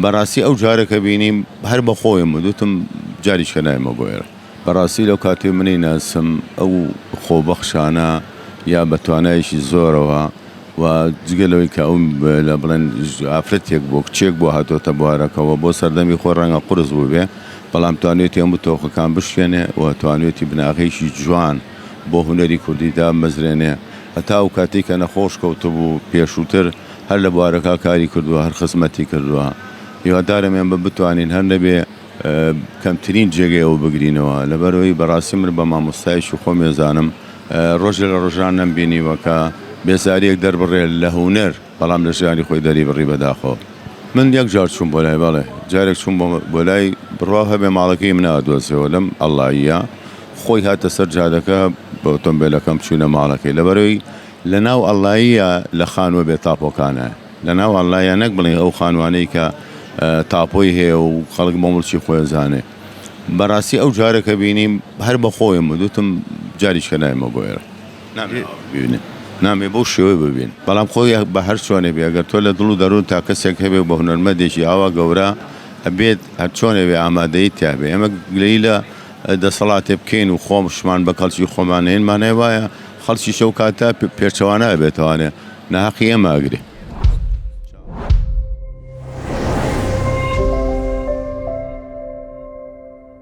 بەڕاستی ئەو جارە کە بینیم هەر بە خۆیم وتم جاریشکە نایمە بۆ ئێرە. بەڕاستی لەو کاتەی منی ناسم ئەو خۆبەخشانە یا بە توانایەکی زۆرەوە و جگە لەوەی کە ئەو لە بڵێن ئافرەتێک بووە کچێک بووە هاتۆتە بوارەکەوە بۆ سەردەمی خۆی ڕەنگە قورس بووبێ بەڵام توانیوێتی هەموو تۆخەکان بشکێنێ و توانیوێتی بناغەیەکی جوان بۆ هونەری کوردی دامەزرێنێ هەتا ئەو کاتەی کە نەخۆش کەوتبوو پێشووتر هەر لە بوارەکە کاری کردووە هەر خزمەتی کردووە هیوادارم ئێمە بتوانین هەر نەبێ کەمترین جێگەی ئەو بگرینەوە لەبەرەوەی بەڕاستی من بە مامۆستایشی خۆم ێزانم ڕۆژێ لە ڕۆژان نەم بینیوە کە بێزاریەک دەربڕێ لە هونەر بەڵام لە ژیانی خۆی دەری بڕی بەداخۆ من یەک جار چوم بۆ لای بەڵێ جارێک چوم بۆ لای بڕوا هەبێ ماڵەکەی من ئادۆزیەوە لەم ئەڵلاییە خۆی هاتە سەر جادەکە بە ئۆتۆمبێلەکەم چوینە ماڵەکەی لەبەرەوەی لە ناو اللەیە لە خانووە بێ تاپۆکانە لە ناو اللەیە نەک بڵێی ئەو خانووانەی کە تاپۆی هەیە و خەڵک بۆ مڵکی خۆی ئەزانێ بەڕاستی ئەو جارە کە بینیم هەر بە خۆیم و دوتم جاریشکە نایمە بۆ ئێرە نامێ ئاوا ببینێ نامێ بەو شێوەی ببین بەڵام خۆی بە هەر چۆنێ بێ گەر تۆ لە دڵ و دەروونتا کەسێک هەبێ و بە هونەرمەندێکی ئاوا گەورە ئەبێت هەر چۆنێ بێ ئامادەیی تیا بێ ئێمە گلەیی لە دەسەڵاتێ بکەین و خۆمشمان بە کەڵکی خۆمان نێین مانای وایە خەڵکیش ئەو کاتە پێچەوانە ئەبێتەوانێ ناهەقی ئێمە ئەگرێ.